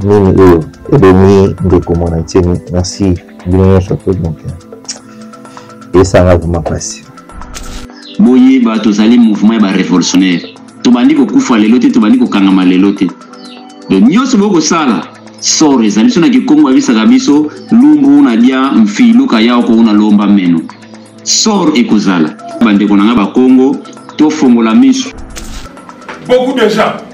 nini oyo ebomi ndeko mwana ntieni merci bino nyonso mpe donc esanga vrema mpasi boyeba tozali mouvement ya barevolutionnaire tobandi kokufa lelo te tobandi kokangama lelo te do nyonso bokosala sor ezali biso na kikongo abisaka biso lumbu na dia mfilu kaya okouna lomba meno sor ekozala bandeko na ngai bakongo tofongola miso beaucoup de gens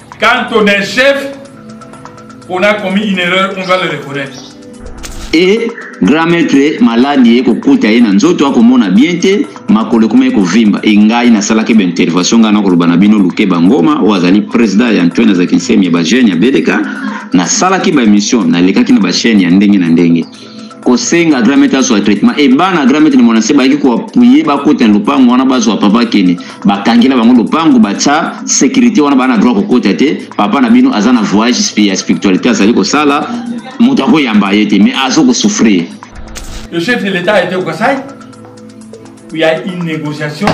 Quand on est chef, on a commis une erreur, on doit le reconnaître. e grand maître maladi ye kokuta ye na nzoto akomona bien te makolo ekoma ye kovimba e ngai nasalaki baintervention ngai nakoloba na bino luke bangoma oyo azali président ya antoine azakisemi ya bajeune ya beleka nasalaki baémission nalekaki na bachaine ya ndenge na ndenge kosenga gramete azwa traitement e bana gramete na mwana se bayaki koapuye bakota na lopango wana bazwa papa kene bakangela bango lopango batya sécurité wana bana droit kokota te papa na bino aza na voyage ya spiritualité azali kosala moto akoyamba ye te mais azo kosouffrir le chef de l'état était au Kasaï où il y a une négociation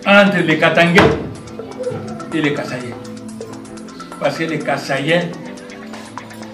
entre les Katangais et les Kasaïens parce que les Kasaïens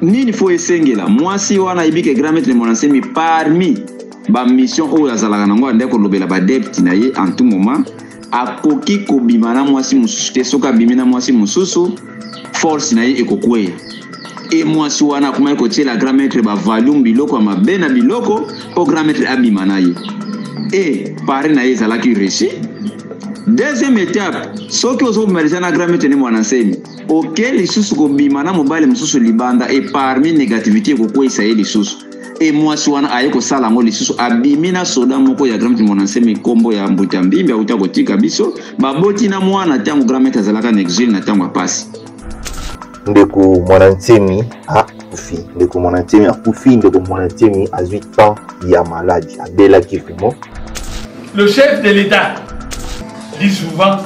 nini fo esengela mwasi wana ayebi ke grand maître mona nsemi parmi bamission oyo azalaka nango ande kolobela badepte na ye en tout moment akoki kobima na mwasi mosusu te soki abimi na mwasi mosusu force na ye ekokweya e mwasi wana akomaki kotyela grand maître bavalume biloko ya mabe na biloko mpo grand maître abima na ye e pari na ye ezalaki réussi deuxième étape soki ozobima deja na grand maître ne mwana nsemi oke lisusu kobima na mobali mosusu libanda e parmi negativité ekokweisa ye lisusu e mwasi wana aye kosala yango lisusu abimi na soda moko ya grand monasemi nkombo ya mbuta mbimbi auta kotika biso baboti na mwana ntango grand maitre azalaka na exile na ntango ya mpasi ndeko mwana nsemi akufi ndeko mwana nsemi akufi ndeko mwana nsemi azwi temps ya maladi abelaki vraiment le chef de l'état dit souvent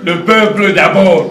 le peuple d'abord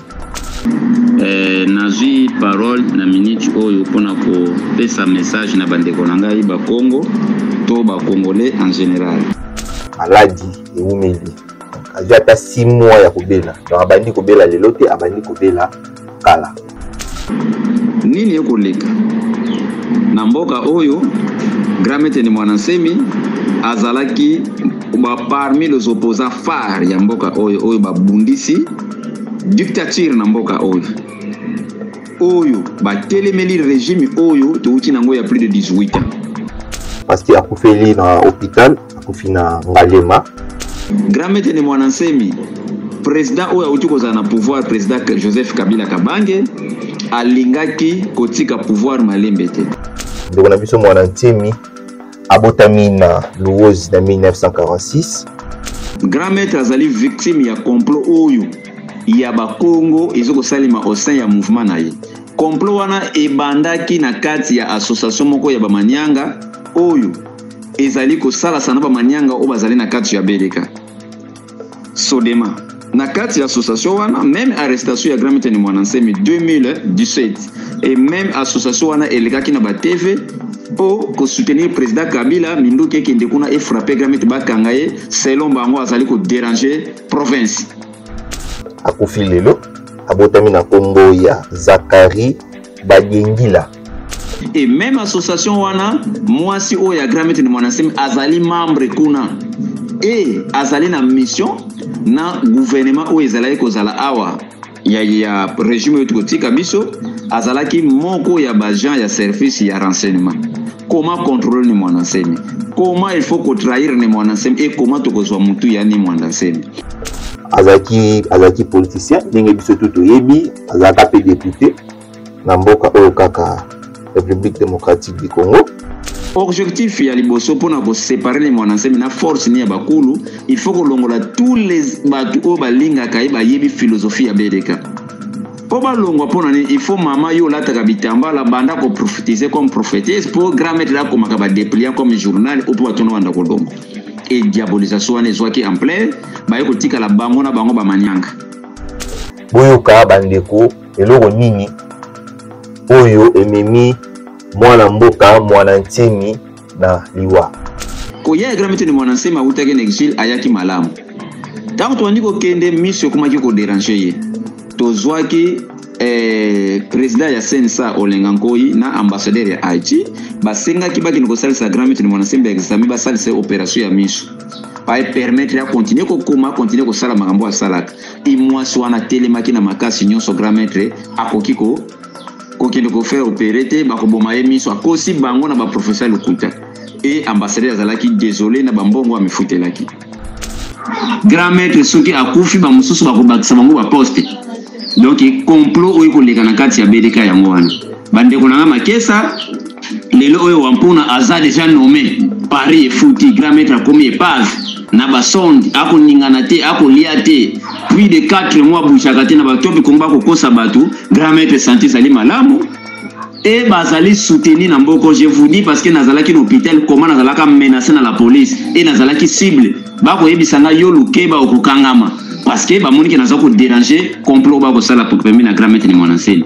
Eh, nazwi parole na minute oyo mpo na kopesa message na bandeko na ngai bakongo to bacongolais en général maladi ewumeli azwi ata 6 mois ya kobela donc abandi kobela lelo te abandi kobela kala nini ekoleka na mboka oyo grand maître ni mwana nsemi azalaki parmi les opposants phare ya mboka oyo oyo babundisi dictature na mboka oyo oyo batelemeli regime oyo touti nango ya plus de 18 ans pasti akufeli na hôpital akufi na ngalema grand maître ne mwana nsemi président oyo auti kozala na pouvoir président joseph kabila kabange alingaki kotika pouvoir malembe te ndeko na biso mwana nsemi abotami na luozi na 1946 grand maître azali victime ya complot oyo ya bakongo eza kosalema au sein ya mouvement na ye complot wana ebandaki na kati ya association moko ya bamanianga oyo ezali kosalasa na bamanianga oyo bazali na kati ya beleka sodema na kati ya association wana meme arrestation ya gramitani mwana nsemi 2017 e meme association wana elekaki na batv mpo kosoutenir président kabila minduki ekende kuna efrappe gramit bakanga ye selon bango azali koderange province akufi lelo abotami na nkombo ya zakari Bagengila. Et même association wana mwasi oyo ya Grammy ni mwana semi azali membre kuna et azali na mission na gouvernement oyo ezalaki kozala awa ya, ya regime oyo tokotika biso azalaki moko ya baagent ya service ya renseignement comment contrôler ni mwana nsemi comment il faut kotrahir ni mwana nsemi et comment tokozwa motu ya ni mwana nsemi azalaki azalaki politicien ndenge biso tu toyebi azalaka mpe depute na mboka oyo kaka république démocratique du congo objectif ya liboso mpo na kosepare le mwana nsemi na force ni ya bakulu il faut kolongola tous les bato oyo balingaka ye bayebi philosophie ya bedeka mpo balongwa mpo na nini il faut mama yo olataka bitambala banda koprofitise comme prophétise mpo grand maître akomaka badepliant comme journal o mpo bato na banda kolongwa e diabolisation wana ezwaki ampleur baye kotikala bango na bango bamanianga boyoka bandeko eloko nini oyo ememi mwana mboka mwana nsemi na liwa koya ya gramito ni mwana nsemi awutaki na exile ayaki malamu ntango tobandi kokende miso ekomaki koderange ye tozwaki eh, president ya sensa olenga nkoi na ambassadeur ya haïti basengaki bakende kosalisa grand maître mwana sembe ya exame basalisa operation ya miso baepermettre ya continue kokoma continue kosala makambo asalaka i mwasi wana atelemaki na makasi nyonso grand maître akoki ko kokende kofaire opere te bakoboma ye miso akosi bango na baprofesseur lokuta e ambassadeur azalaki desole na bambongo amifutelaki grand maître soki akufi bamosusu bakobakisa bango baposte donc complot oyo ekoleka na kati ya bdk yango wana bandeko na ngai makesa lelo oyo wampuna aza deja nomme paris efuti grand maître akomi epave na basonde akoningana te akolia te plus de 4 mois abouchaka te na bato oyo bikongo bakokosa bato grand maître santé ezali malamu e bazali soutenu na mboko je vous dis parce que nazalaki na hôpital koma nazalaka menace na la police e nazalaki cible bakoyebisa ngai yo lukeba okokangama parce que bamonike naza koderange complot bakosala pembe na grand maître de monasele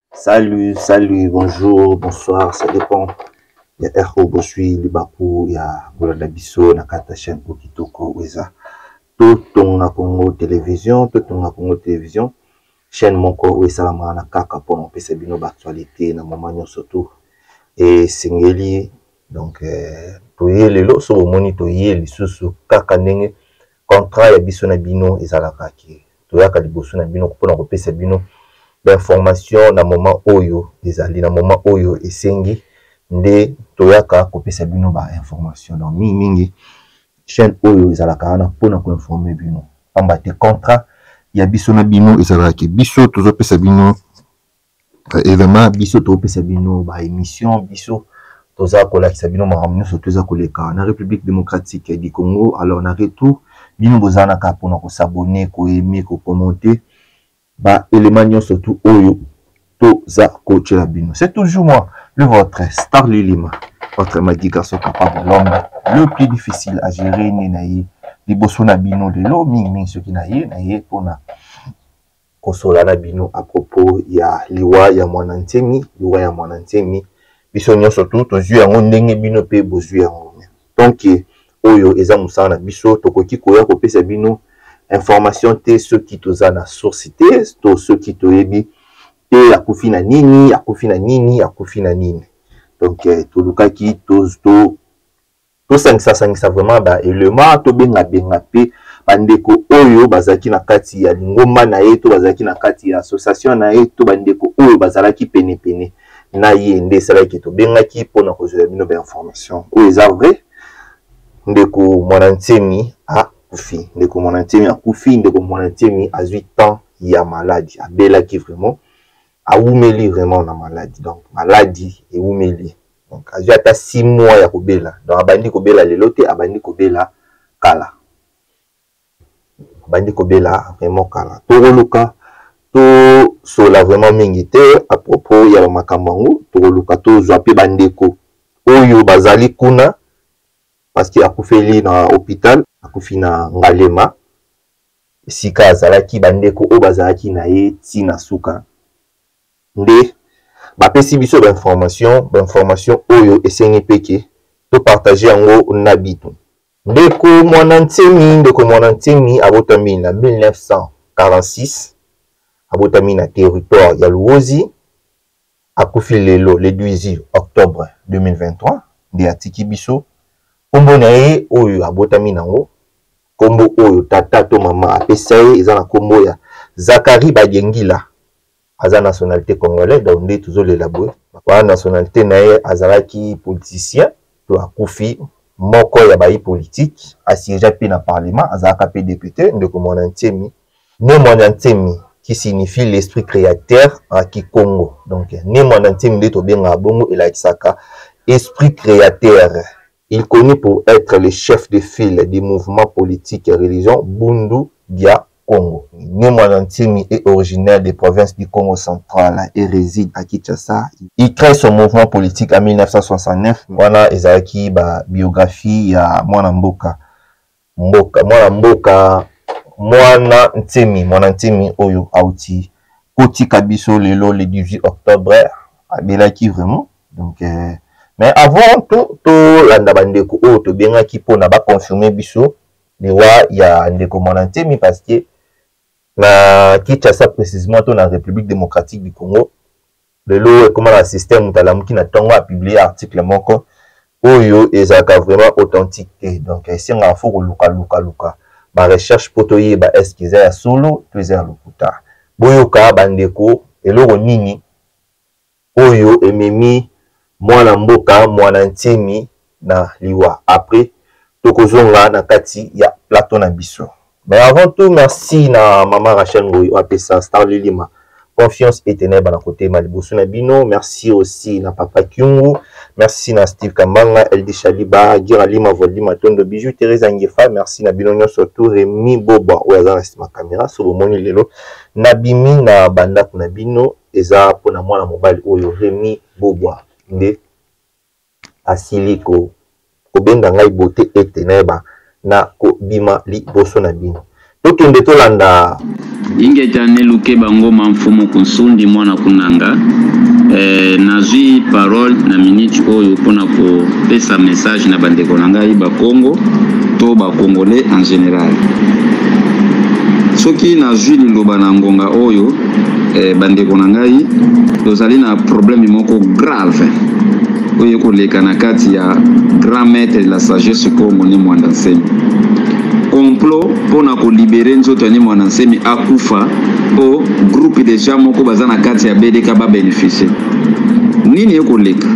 Salut, salut, bonjour, bonsoir, ça dépend. Ya Erko Bosui, Libaku, ya Bolanda Biso, na kata chaîne Okitoko, Weza. Totonga Congo Télévision, Totonga Congo Télévision, chaîne moko oyo esalamaka na kaka mpo na kopesa bino baactualité na moma nyonso tu esengeli donc euh, toye lelo soki omoni toye lisusu kaka ndenge Contrat ya biso na bino ezalaka ke toyaka liboso na bino mpona kopesa bino ba information na moment oyo ezali na moment oyo esengi nde toyaka kopesa bino ba information donc mingi mingi chaine oyo ezalaka wana mpona ko informe bino pamba te contrat ya biso na bino ezalaka ke biso tozopesa bino et vraiment biso topesa bino ba émission biso toza kolakisa bino makambo nyonso to eza koleka na république démocratique du congo alors na retour bino boza na kaka mpona kosabone koyeme kokommente ba élément nyonso tu oyo toza kotyela bino c'est toujours moi le votre star lilima votre magi garçon capable l'homme le plus difficile à gérer nde na ye liboso na bino lelo mingimingi soki na ye na ye mpona kosolola na bino a propos ya liwa ya mwana nsemi liwa ya mwana nsemi biso nyonso tu tozwi yango ndenge bino mpe bozwi yango donc oyo eza mosala na biso tokoki koya kopesa bino information te soki toza na source te to soki toyebi te akufi na nini akufi na nini akufi na nini donc eh, tolukaki tosangisasangisa vraiment ba element tobengabenga mpe bandeko oyo bazalaki na kati ya lingomba na ye to bazalaki na kati ya association na ye to bandeko oyo bazalaki penepene na ye nde esalaki tobengaki mpo na kozwela bino bainformation oyo eza vrai ndeko mwana nsemi akufi ndeko mwana nsemi akufi ndeko mwana nsemi azwi temps ya maladi abelaki vraiment awumeli vraiment na maladi donc maladi ewumeli donc azwi ata six mois ya kobela donc abandi kobela lelo te abandi kobela kala abandi kobela vraiment kala tokoluka tosola vraiment mingi te à propos ya bamakambo yango tokoluka tozwa mpe bandeko oyo bazali kuna parce que akufeli na hôpital akufi na ngalema esika azalaki bandeko oyo bazalaki na ye ntina suka nde bapesi biso ba information ba information oyo esengi mpe ke to partage yango na bino ndeko mwana nsemi ndeko mwana nsemi abotami na 1946 abotami na territoire ya luozi akufi lelo le 18 octobre 2023 nde atiki biso nkombo na ye oyo abotami nango nkombo oyo tata to mama apesa ye eza na nkombo ya zakari bagengila aza nationalité congolais donc nde tozolela boye wana nationalité na ye azalaki politicien to akufi moko ya bayi politike asiégea mpe na parlement azalaka mpe depute ndeko mwana ntiemi ne mwana ntiemi qui signifie l'esprit créateur en kikongo donc ne mwana ntiemi nde tobengaka bongo elakisaka esprit créateur il connu pour être le chef de file du mouvement politique ya religion bundu dia Congo. Né mwana Nsemi est originaire des provinces du Congo central et réside à Kinshasa. Il crée son mouvement politique en 1969. Wana ezalaki ba biographie ya mwana mboka. Mboka mwana mboka mwana Nsemi mwana Nsemi oyo auti kotika biso lelo le 18 octobre abelaki vraiment donc euh, mais avant to tolanda bandeko oyo tobengaki mpona baconfirme biso liwa ya ndeko mwana ntemi parce que na kinshasa précisement to na république démocratique du congo lelo ekoma na système moto alamuki na ntongo apublie article moko oyo ezalaka vraiment authentique te donc esengaka fo koluka luka luka barecherche mpo toyeba eske eza ya solo to eza ya lokuta boyoka bandeko eloko nini oyo ememi mwana mboka mwana Nsemi na liwa après toko zonga na kati ya plateau na biso. Mais avant tout merci na maman Rachel Ngoyi oyo apesa Star Lilima confiance ete nayeba na kotema liboso na bino. Merci aussi na papa Kyungu, merci na Steve Kambanga, LD Shaliba, Gira Lima, Voldi Matondo, Bijou Teresa Ngefa, merci na bino nyonso tout Remy Boba oyo aza na sima camera so bomoni lelo nabimi na bandako na bino. eza mpo na mwana mobali oyo Remy Bogwa nde asili ko kobenda ngai bote ete nayeba na kobima liboso na bino tokende tolanda ingeta neluke bangoma mfumu kunsundi mwana kunanga eh, nazwi parole na minute oyo mpo na kopesa message na bandeko na ngai bakongo to bakongolais en général soki nazwi liloba na ngonga oyo eh, bandeko na ngai tozali na probleme moko grave oyo ekoleka na kati ya grand maître de la sagesse congo ne mwanda nsemi complot mpo na kolibere nzoto ya ne mwanda nsemi akufa mpo groupe deja moko baza na kati ya bdk babeneficie nini ekoleka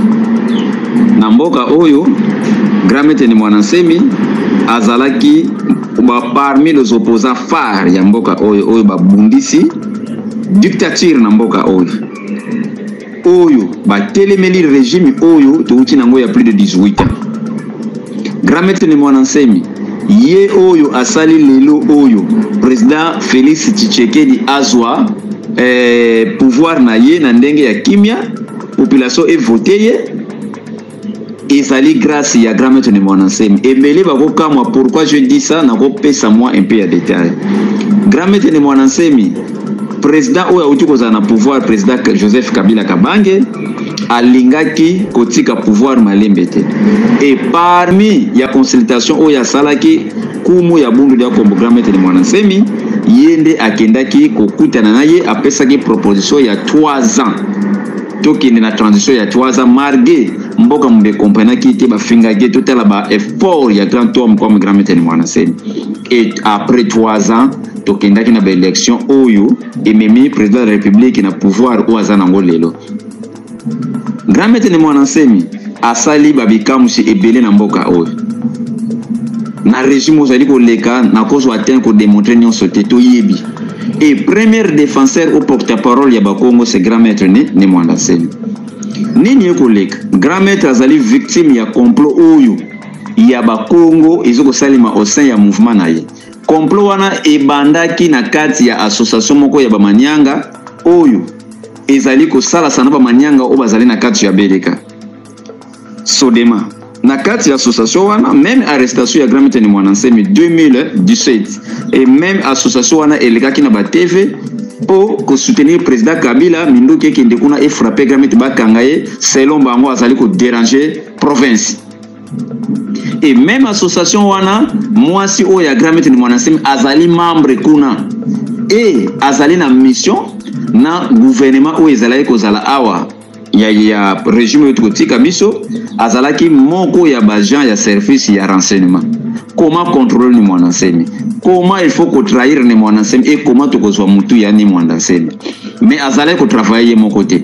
na mboka oyo grand maître ne mwanda nsemi azalaki ba parmi les opposants phares ya mboka oyo oyo babundisi dictature na mboka oyo oyo batelemeli regime oyo touti nango ya plus de 18 ans grand maître ni mwana nsemi ye oyo asali lelo oyo président félix tshisekedi azwa eh, pouvoir na ye na ndenge ya kimia population evote ye ezali grâce ya grand maître de mwana nsemi ebele bakokamwa pourquoi je dis ça nakopesa mwa un peu ya détail grand maître de mwana nsemi président oyo auti kozala na pouvoir président joseph kabila kabange alingaki kotika pouvoir malembe te et parmi ya consultation oyo asalaki kumu ya bundu lya kombo grand maître de mwana nsemi ye nde akendaki kokutana na ye apesaki proposition ya 3 ans tokende na transition ya twaza marge mboka mobe ecomprenaki ye te bafingaki ye totala ba effort ya grand homme comme grand metene mwana nsemi et après trois ans tokendaki na baélection oyo ememi président de la république na pouvoir oyo aza nango lelo grand metene mwana nsemi asali ba bikamwisi ebele na mboka oyo na regime ozali koleka nakozwa te kodemontre nyonso te toyebi et premier défenseur au porte-parole ya bakongo c'est grand maître ne, ne mwanda nsemi nini ekoleka grand maître azali victime ya complot oyo ya bakongo ezo kosalema au sein ya mouvement na ye complot wana ebandaki na kati ya association moko ya bamanianga oyo ezali kosalasa na bamanianga oyo bazali na kati ya beleka sodema na kati ya association wana meme arrestation ya grand mitene mwana nsemi 2017 et meme association wana elekaki na batv mpo kosoutenir président kabila minduki ekende kuna efrappe grand mite bakanga ye selon bango azali koderange province et même association wana mwasi oyo ya gramete ni mwanasemi azali membre kuna e azali na mission na gouvernement oyo ezalaki kozala awa ya, ya regime oyo tokotika biso azalaki moko ya baagent ya service ya renseignement comment contrôler ni mwana nsemi comment il faut kotrahir ni mwana nsemi e comment tokozwa motu ya ni mwana nsemi mais azalaki kotravaille ye moko te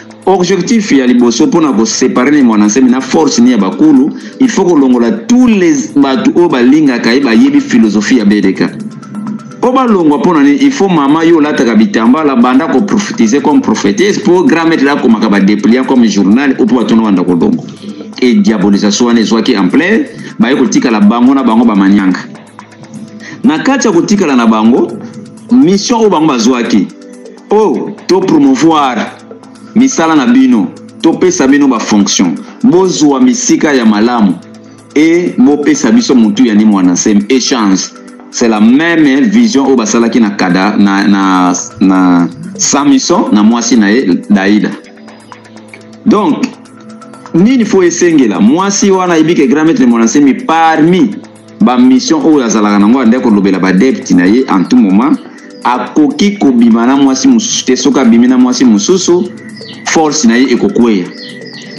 Objectif ya liboso mpo na kosepare ne mwana nsemi na force ni ya bakulu il faut kolongola tous les bato oyo balingaka ye bayebi philosophie ya BDK mpo balongwa mpo na nini il faut mama yo olataka bitambala banda koprofetize comme prophétise mpo grand maître akomaka badepliant comme journal opo batono banda kolongo e diabolisation wana ezwaki ampleur baye kotikala bango na bango bamanianga na kati ya kotikala na bango mission oyo bango bazwaki po to promouvoir misala na bino topesa bino bafonction bozwa misika ya malamu e bopesa biso motu ya nimo wana se échange c'est la même vision oyo basalaki na kada na, na, na samison na mwasi na ye daida donc nini fo esengela mwasi wana ayebike grand maître mwana nsemi parmi ba mission oyo azalaka nango ande kolobela ba debte na ye en tout moment akoki kobima na mwasi mosusu te soki abimi na mwasi mosusu force na ye ekokweya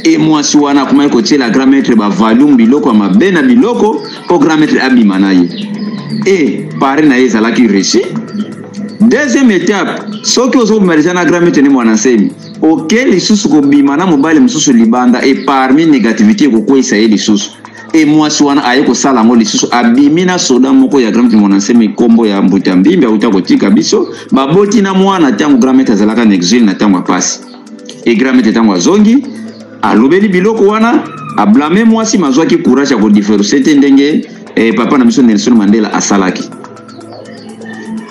e mwasi wana akomaki kotiela grand maître bavalume biloko ya mabe na biloko mpo grand maître abima na ye e pare na ye ezalaki russie deuxième étape soki ozobimaliza na grand maître nde mwana nsemi oke lisusu kobima na mobali mosusu libanda e parmi négativité ekokweisa ye lisusu e mwasi wana aye kosala yango lisusu abimi na soda moko ya grand kimonanseme nkombo ya mbuta mbimbi auta kotika biso baboti na mwana ntango gramete azalaka na exile na ntango ya mpasi e gramete ntango azongi alobeli biloko wana ablame mwasi mazwaki courage ya kodiferuse te ndenge eh, papa na biso nelson mandela asalaki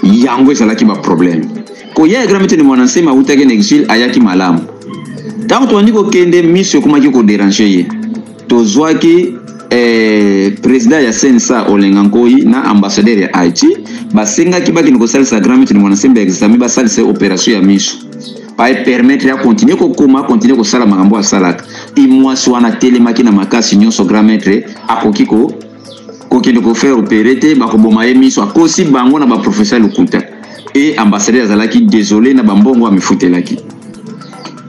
yango ezalaki baproblème koya ya gramete ni mwana nsema autaki na exile ayaki malamu ntango tobandi kokende miso ekomaki koderange ye tozwaki eh, president ya sensa olenga nkoi na ambassadeur ya haïti basengaki bakende kosalisa grand maître mwana sembe exame basalisa opération ya miso baepermettre akontinue kokoma akontinue kosala makambo asalaka imwasi wana atelemaki na makasi nyonso grand maître akoki ko kokende ko faire opere te bakoboma ye miso akosi bango na baprofesseur lokuta e ambassadeur azalaki désolé na bambongo amifutelaki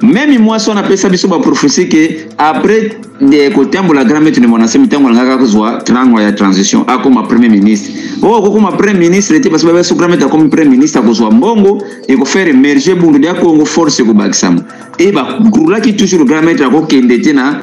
meme mwasi wana apesa biso baprofesi ke après de kotambola grand maître de monase mitango alingaka kozwa trango ya transition akoma premier ministre oyo oh, kokoma premier ministre te parce que babeso grand maître akomi premier ministre akozwa mbongo ekofere emerge bundu dia congo force ekobakisama e bagrulaki toujours grand maître akokende te na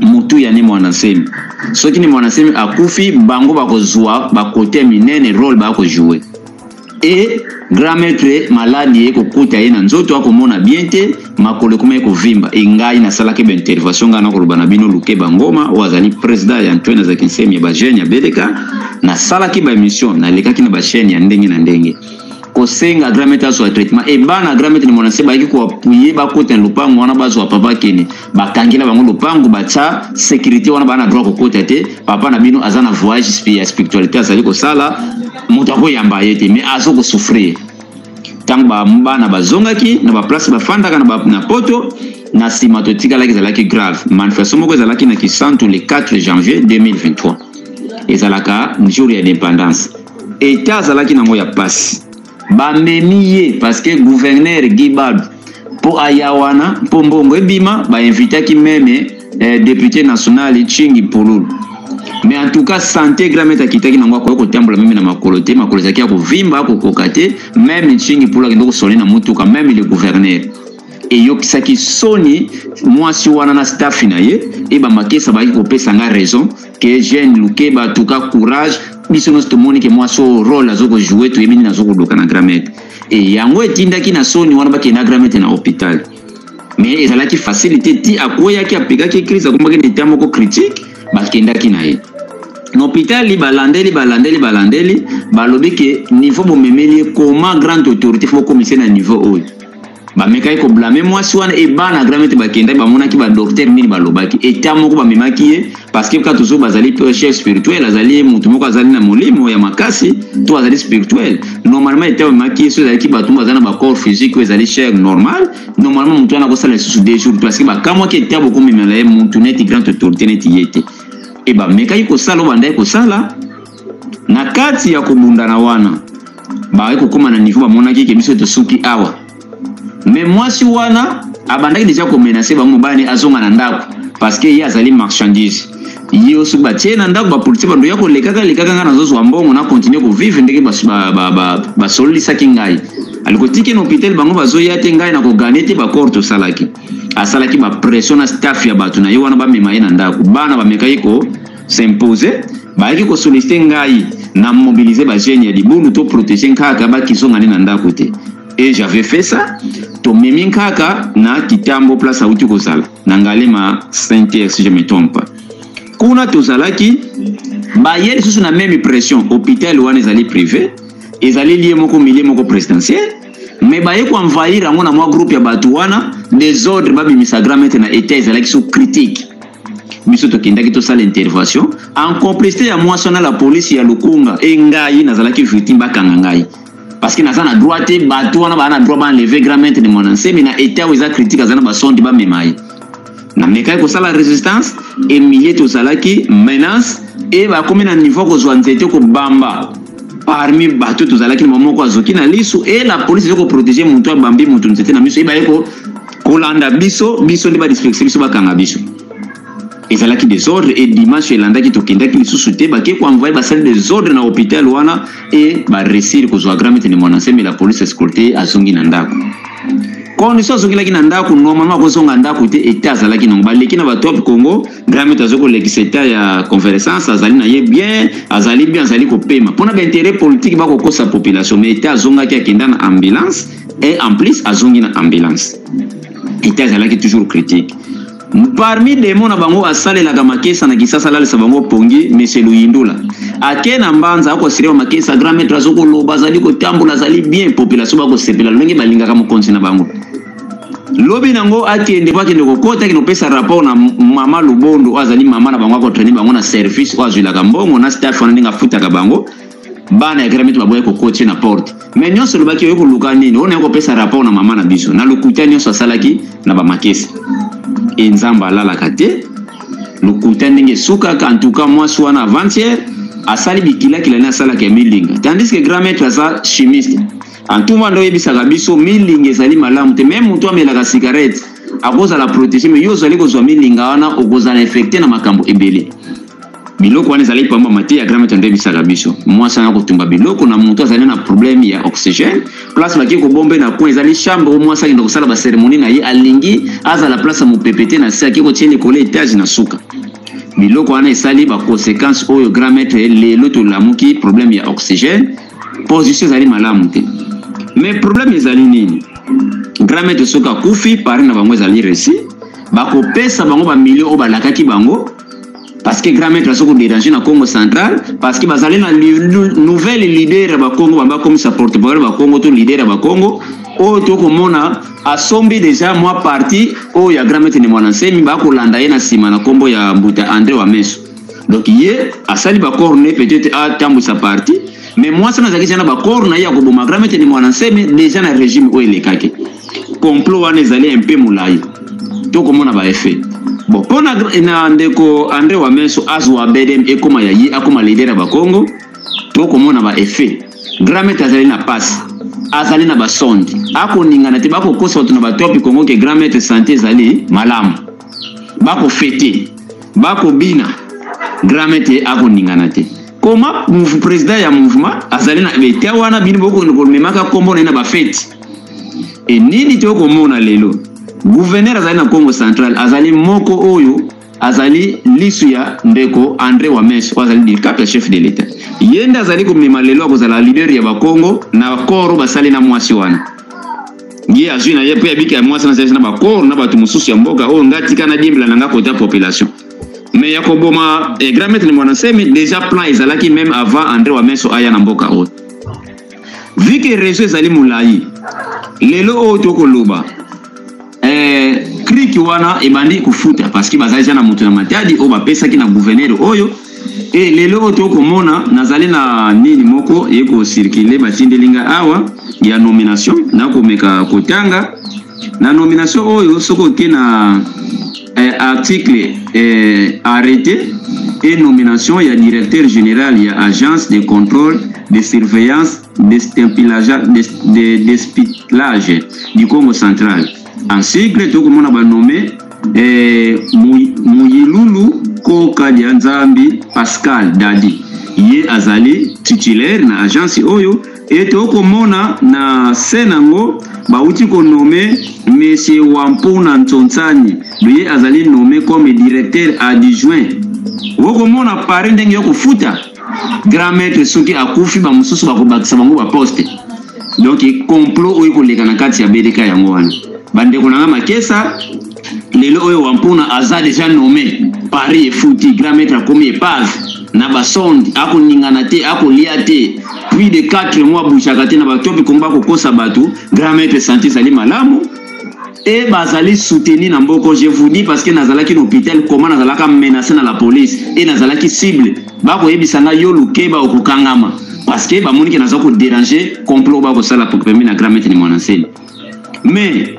motuya ni mwana nsemi soki ni mwana nsemi akufi bango bakozwa bakote minene role bakojoue e grand maître maladi ye kokuta ye na nzoto akomona bien te makolo ekoma ye kovimba e ngai nasalaki baintervention ngai nakoloba na bino luke bangoma oyo azali président ya antoine azalaki nsemi ya bajeune ya beleka nasalaki baémission nalekaki na bachaîne ya ndenge na ndenge kosenga grand maître azwa traitement ebana grand maître na mwana se bayaki koapuye bakota na lopango wana bazwa papa kene bakangela bango lopango batya sécurité wana baa na droit kokota te papa na bino aza na voyage ya spiritualité azali kosala moto akoyamba ye te mais azo kosouffrir ntango bana bazongaki na baplace bafandaka na poto na nsima totikalaki ezalaki grave manifestation moko ezalaki na kisantu le 4 janvier 2023 ezalaka jour ya indépendance etat azalaki nango ya mpasi Bamemi ye parce que gouverneur Guy Balu mpo aya wana mpo mbongo ebima ba invitaki meme eh, depute national Chingi Pululu mais en tout cas sante grand maître akitaki nango akoki kotambola meme na makolo te makolo ezalaki ya kovimba akokoka te meme Chingi Pululu akende kosole na motuka meme le gouverneur eyokisaki soni mwasi wana na stafi na ye eba makesa baki kopesa nga raison ke jeune lukeba tuka courage biso nyonso tomoni ke mwasi oyo role azo kojoue toyebi nini azo koloka na gramete e yango etindaki na soni wana bakende na gramete na hopital mais ezalaki facilité ti akweyaki apekaki crise akomaki na etat moko critique bakendaki na ye na hopitali balandeli balandeli balandeli balobi ke niveau bomemeli ye koma grande autorité fo bokomisa na niveau oyo bamekaki koblame mwasi wana e bana gramete bakendaki bamonaki badoktere nini balobaki eta moko bamemaki ye parceke kaka tozo bazali chef spirituel azali motu moko azali na molimo ya makasi to azali spirituel normalement eta bamemaki ye so ezalaki bato baza na bacor physique oyo ezali cher normal normalement motu wana akosala lisusu deux jours parceke bakamwaki eta bokomemela ye motu neti grande autorité neti ye te e bamekaki kosala oyo bandaki kosala Na kati ya kobundana wana, baye kokoma na niveau bamonaki ke biso tosuki awa. Mais mwasi wana abandaki deja ko menacer bango mobali azonga na ndako parce que ye azali marchandise. Ye oso batie na ndako ba policiers bando ya kolekaka lekaka nga nazozwa mbongo na continuer ko vivre ndenge basololisaki ngai. Aliko tike na hôpital bango bazoya te ngai na ko gagner te ba corps tosalaki. Asalaki ba pression na staff ya bato na ye wana bamema ye na ndako. Bana bamekaki ko s'impose bayaki kosoliste ngai na mobilize bagene ya libulu to protege nkaka bakizonga ne na ndako te e j'avais fait ça tomemi nkaka na kitambo place auti kozala na ngalema saintier si je me trompe kuna tozalaki baye lisusu na meme pression hôpital wana ezali privé ezali lie moko milie moko présidentiel me baye koenvahir yango na mwa groupe ya bato wana desordre babimisa grand maître na etat ezalaki so critique biso tokendaki tosala intervention en complicité ya mwasi wana la police ya lukunga e ngai nazalaki victime bakanga ngai parce que naza na droit te bato wana baa na droit baenleve grand maître de mon ensemi na état oyo eza critique aza na basondi bamema ye namekaki kosala résistance emilie tozalaki menace e bakomi na niveau kozwa nzete kobamba parmi bato tozalaki na moko azoki na lisu e la police eza koprotege motu abambi motu nzete na miso e baye kolanda biso biso nde badispekse biso bakanga biso ezalaki desordre e dimanche elandaki tokendaki lisusu te bake koenvoye basali desordre na hopital wana e baresir kozwa gramete ne mwana nsembela police escorte azongi na ndako condition azongelaki na ndako normalement akozonga ndako te eta azalaki nango baleki na batop congo gramete azoki kolekisa eta ya conversance azali na ye bien azali bien azali kopema mpona bainteret politique bakokosa population ma eta azongaki akenda na ambulance et en plus azongi na ambulance ete azalaki toujours critique parmi demo na bango asalelaka makesa na kisasa alalisa bango pongi monsieur luyindula ake na mbanza akosirema makesa grand maître azokoloba azali kotambola azali bien population bakosepela lolenge balingaka mokonzi na bango lobi nango akende po akende kokota akende kopesa rapport na mama lobondo oyo azali mama na bango akotraine bango na service oyo azwilaka mbongo na staff wana ndenge afutaka bango bana ya gramit baboya kokotie na porte me nyonso olobaki oyo koluka nini oyo naye kopesa rapport na mama na biso na lokuta nyonso asalaki na bamakesi e nzambe alalaka te lokuta ndenge esukaka antuka mwasi wana avantiere asali bikilakila ne asalaka ya milinga tandis ke grand maître aza chimiste antuma nde oyebisaka biso milinga ezali malamu te meme moto amelaka cigarette akozala protege me yo ozali kozwa milinga wana okozala infecte na makambo ebele biloko wana ezalaki pamba mateya grama tando ebisaka biso mwasi wana kotumba biloko na moto azali na problème ya oxygène place bake kobombe na coin ezali chambre o mwasi akenda kosala baceremonie na ye alingi azala place ya mopepe te na se ake kotie likolo etage na suka biloko wana esali baconséquence oyo grand maître lelo tolamuki problème ya oxygène position ezali malamu te mais problème ezali nini grand maître soki akufi pari na bango ezali resi bakopesa bango bamilio oyo balakaki bango parce que grand maître aza koderange na congo central parce que bazali na nouvelle leader ya bakongo bamba akomisa porte parole ya bakongo to leader ya bakongo oyo tokomona asombi deja mwa parti oyo ya grand maître ne mwana nsemi bakolanda ye na nsima na nkombo ya mbuta andre wa meso donc ye asali bakor ne peut-être atambwisa parti mais mwasi wana azalaki deja na bakor na ye ya koboma grand maître ne mwana nsemi deja na régime oyo elekaki complot wana ezali un peu molayi tokomona ba effet bon mpo na, na ndeko andre wamenso azwa bedem ekoma ya ye akoma leader ya bakongo tokomona ba effet gramete azali na pasi azali na basonde akoningana te bakokosa bato na batopi kongo ke gramete sante ezali malamu bakofete bakobina gramete akoningana te koma president ya mouvement azali na betia wana bino bokokende komemaka nkombo na ye na bafeti e nini te okomona lelo guverner azali na congo central azali moko oyo azali lisu ya ndeko andre wames oyo azali dicap ya chef de l'etat ye nde azali komema lelo akozala leader ya bakongo na accord oyo basali na mwasi wana ye azwi na ye mpe abiki ya mwasi na zalisi na bakor na bato mosusu ya mboka oyo ngai tika na diembela na ngai kota population mais ya koboma eh, grand maître mwana nsemi déjà plan ezalaki même avant andre wa meso aya na mboka oyo vu que réseau ezali molai lelo oyo tokoloba eh, kriki wana ebandi kofuta parce que bazali ja na moto na matadi oyo bapesaki na gouverneur oyo e lelo oyo tokomona nazali na nini moko ye kocircule batindeli ngai awa ya nomination nakomeka kotanga Na nomination oyo soki oke na eh, article eh, arrete et nomination ya directeur général ya agence de contrôle de surveillance d'espionage du Congo central en sigle tokomona banome eh, Muyilulu Koka Dianzambi Pascal Dadi ye azali titulaire na agence oyo ete okomona na se nango bauti konome Monsieur Wampuna Ntsontsani loye azali nome comme directeur adjoint. Okomona Paris ndenge yo kofuta grand maître soki akufi bamosusu bakobakisa bango ba poste. Donc complot oyo ekoleka na kati ya BDK yango wana. Bandeko na nga Makesa lelo oyo wampuna aza deja nomme paris efuti grand maître akomi epave na basonde akoningana te akolia te puis de 4 mois abujaka te na bato oyo bikongo bakokosa bato grand maître santi ezali malamu e bazali soutenu na mboko je vous dis parce que nazalaki na hôpital koma nazalaka menace na la police e nazalaki cible bakoyebisa ngai yo lukeba okokangama parce que bamoni ke naza koderange complot bakosala pembe na grand maître ni mwana nsele mais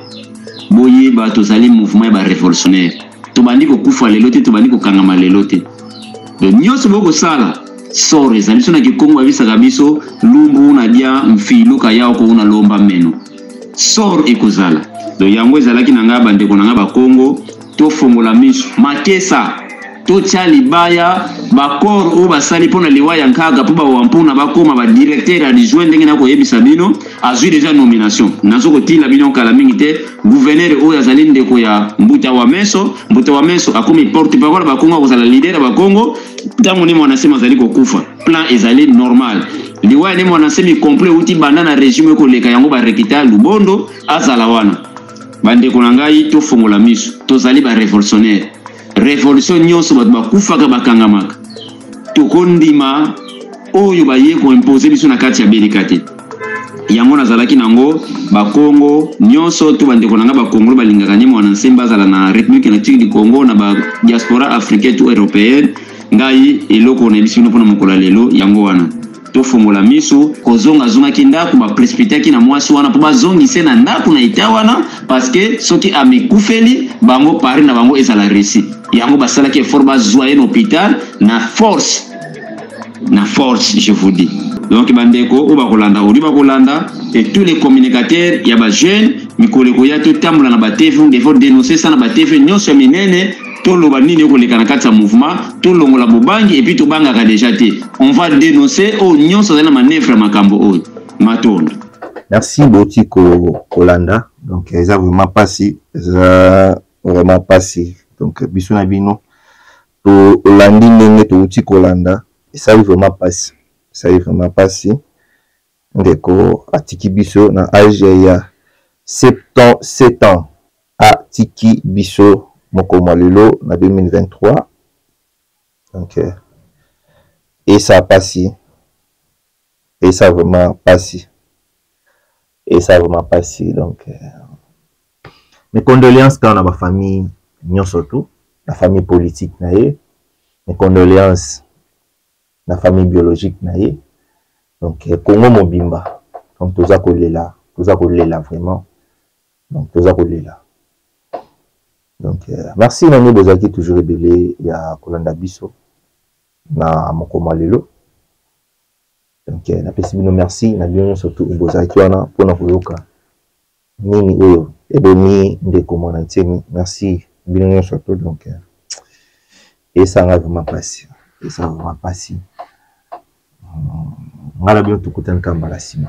boyeba tozali mouvement ya barevolutionnaire tobandi kokufa lelo te tobandi kokangama lelo te donc nyonso bokosala sor ezali biso na kikongo abisaka biso lumbu na dia mfiluka yao kouna lomba meno sor ekozala donc yango ezalaki na ngai bandeko na ngai bakongo Tofongola miso makesa totya libaya bakor oyo basali mpo na liwa ya nkaga mpo bawampuna bakoma ba directeur adjoint ndenge nakoyebisa bino azwi deja nomination nazo kotila bino kala mingi te gouverneur oyo azali ndeko ya mbuta wa meso mbuta wa meso akomi porte parole bakongo akozala lider ya bakongo ntango ne mwana nsema azali kokufa plan ezali normal liwa ya ne mwana nsemi complet euti banda na regime ekoleka yango barekita lubondo azala wana bandeko na ngai tofongola miso tozali barevolutionnaire revolution nyonso bato bakufaka bakangamaka tokondima oyo baye koimpose biso na kati ya belika te yango nazalaki nango bakongo nyonso to bandeko na ngai bakongolo balingaka nde mwana nse bazala na république natique du congo na ba diaspora africaine to européenne ngai eloko nayebisi bino mpona mokolo ya lelo yango wana tofongola miso kozonga azongaki ndako baprespitaki na mwasi wana mpo bazongise na ndako na eta wana parceke soki amikufeli bango pari na bango ezala resi yango basalaki effort bazwa ye na hopital na force na force je vous dis donc bandeko oyo bakolanda oli bakolanda et tous les communicateurs ya bajeune mikolo ekoya totambola na batv ndefo denonce ça na batv nyonso ya minene toloba nini ekoleka na kati ya mouvement tolongola bobangi epuis tobangaka deja te on va denoncer oyo oh, nyonso azali na manevre ya makambo oyo oh. matondo merci boti kolanda ko donc eza vraiment mpasi eza vraiment mpasi donc biso na bino tolandi ndenge touti kolanda esali vraiment mpasi esali vraiment mpasi Ndeko atiki biso na age ya 77 ans atiki biso mokolo mwa lelo na 2023 donc euh, esa pasi esa vraiment pasi esa vraiment pasi donc euh, mes condoléances kaka na bafamille nyonso tout na famille politique na ye mes condoléances na famille biologique na ye donc eh, congo mobimba donc toza kolela toza kolela vraiment donc toza kolela donc eh, merci na nde bozalaki toujours ebele ya kolanda biso na mokoma ya lelo donc eh, napesi bino merci na bino nyonso tu bozalaki wana mpona koyoka Nini oyo ebomi ndeko mwana nsemi merci bino nyonso to donc euh, esanga vrema mpasi esanga vrema mpasi hmm, ngai na bino tokutani kaka mbala nsima